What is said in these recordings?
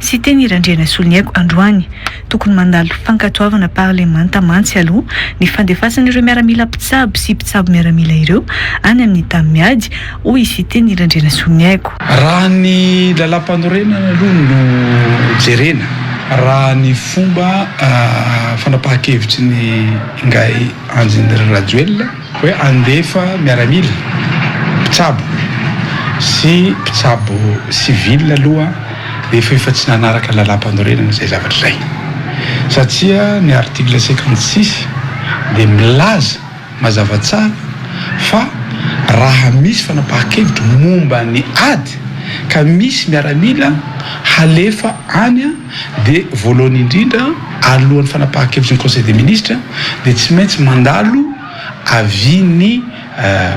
Tsy teny irandrianasolo ny aiko androany. Tokony mandalo fankatoavana parlemanta mantsy aloha ny fandefasan'ireo miaramila mpitsabo sy mpitsabo miaramila ireo any amin'ny tany miady, hoy i Siteny irandrianasolo ny aiko. Raha ny lalampanorenana aloha no jerena, raha ny fomba fanapahan-kevitry ny ingahy Andry Rajoelina, Hoe handefa miaramila, mpitsabo sy mpitsabo civil aloha rehefa efa tsy nanaraka ny lalàmpanorenana izay zavatra izay. Satria ny article cinquante six dia milaza mazava tsara fa raha misy fanapahan-kevitra momba ny ady ka misy miaramila halefa any. dia voalohany indrindra alohan'ny fanapahan-kevitry ny Conseil des Ministres dia tsy maintsy mandalo avis-n'ny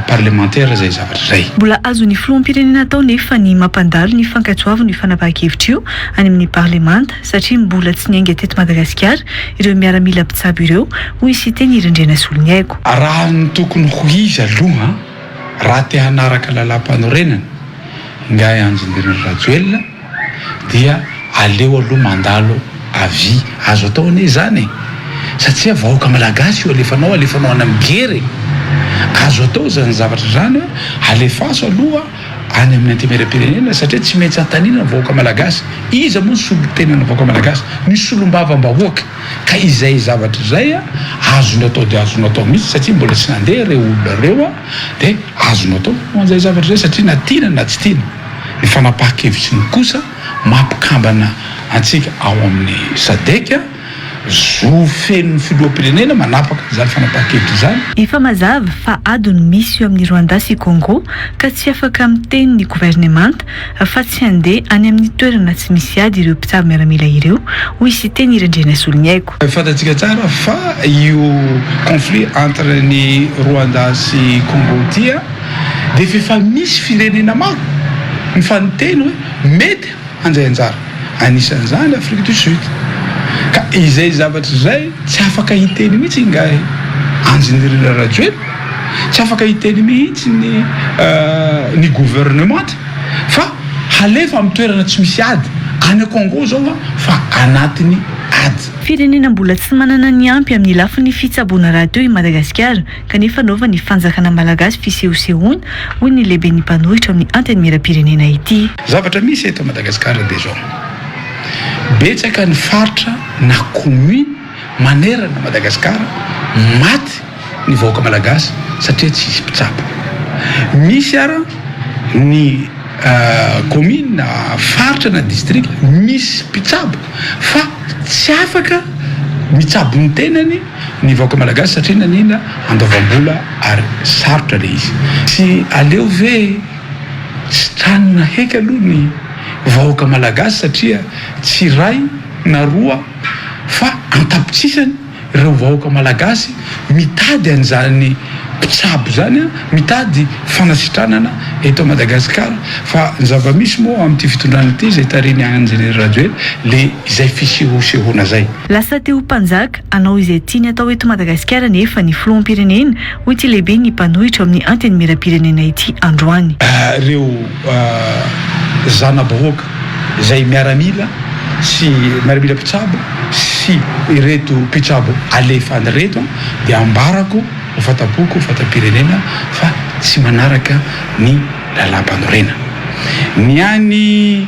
parlemantera izay zavatra izay. Mbola azon'ny filoham-pirenena atao nefa ny mampandalo ny fankatoavin'io fanapahan-kevitra io any amin'ny parlemanta satria mbola tsy niainga teto Madagasikara ireo miaramila mpitsabo ireo, hoy i Siteny Hery Andrianasoloniaiko. Raha ny tokony ho izy aloha, raha te hanaraka lalàmpanorenana, ingahy Andry Nirina Rajoelina, dia aleo aloha mandalo avis, azo atao anie izany e! satria vahoaka malagasy io alefanao alefanao any amin'ny guerre e! azo atao izany zavatra izany hoe alefaso aloha any amin'ny antemieram-pirenena satria tsy maintsy antanina ny vahoaka malagasy, iza moa ny solontenan'ny vahoaka malagasy? ny solombavam-bahoaka, ka izay zavatra izay a azonao atao dia azonao atao mihitsy satria mbola tsy nandeha ireo olona ireo a, dia azonao atao ny manao an'izay zavatra izay satria na tiana na tsy tiana. Ny fanapahan-kevitry ny kosa maha mpikambana antsika ao amin'ny Sadec, zo feno ny filoham-pirenena manapaka izany fanapahan-kevitra izany. Efa mazava fa ady no misy eo amin'i Rwanda sy Congo ka tsy afaka miteny ny governemanta fa tsy handeha any amin'ny toerana tsy misy ady ireo mpitsabo miaramila ireo, hoy Siteny Randrianasoloniaiko. Fantatsika tsara fa io conflit entre ny Rwanda sy Congo ity a. dia efa efa misy firenena maro mifaninteny hoe mety handray anjara, anisan'izany Afrique du Sud. Ka izay zavatra izay tsy afaka hiteny mihitsy ingahy Andry Nirina Rajoelina, tsy afaka hiteny mihitsy ny ny gouvernementa fa halefa amin'ny toerana tsy misy ady, any Congo izao an fa anatin'ny ady. Firenena mbola tsy manana ny ampy amin'ny lafiny fitsaboana rahateo i Madagasikara, kanefa anaovan'ny fanjakana malagasy fisehosehoana, hoy ny lehiben'ny mpanohitra ao amin'ny Antenimierampirenena ity. Zavatra misy eto Madagascar dia izao, betsaka ny faritra na commune manerana Madagascar maty ny vahoaka malagasy satria tsisy mpitsabo. Misy ara ny commune na faritra na district misy mpitsabo fa tsy afaka mitsabo ny tenany, ny vahoaka malagasy satria naniana andoavam-bola ary sarotra le izy tsy aleo ve sitranina heky aloha ny vahoaka malagasy satria tsy iray na roa fa an-tapitsisany ireo vahoaka malagasy mitady an'izany mpitsabo zany an mitady fanasitranana eto Madagascar fa ny zava-misy moa amin'ity fitondrana ity izay tarihin'i Andry Rajoely le izay fisehosehoana zay. Lasa te ho mpanjaka, hanao izay tiany atao eto Madagasikara anefa ny filoham-pirenena, hoy ity lehiben'ny mpanohitra ao amin'ny Antenimierampirenena ity androany. Ireo zana-bahoaka izay miaramila sy miaramila mpitsabo sy ireto mpitsabo alefany ireto dia ambarako ho fanta-poko, fanta-pirenena fa tsy manaraka ny lalàmpanorenana. Ny an'i.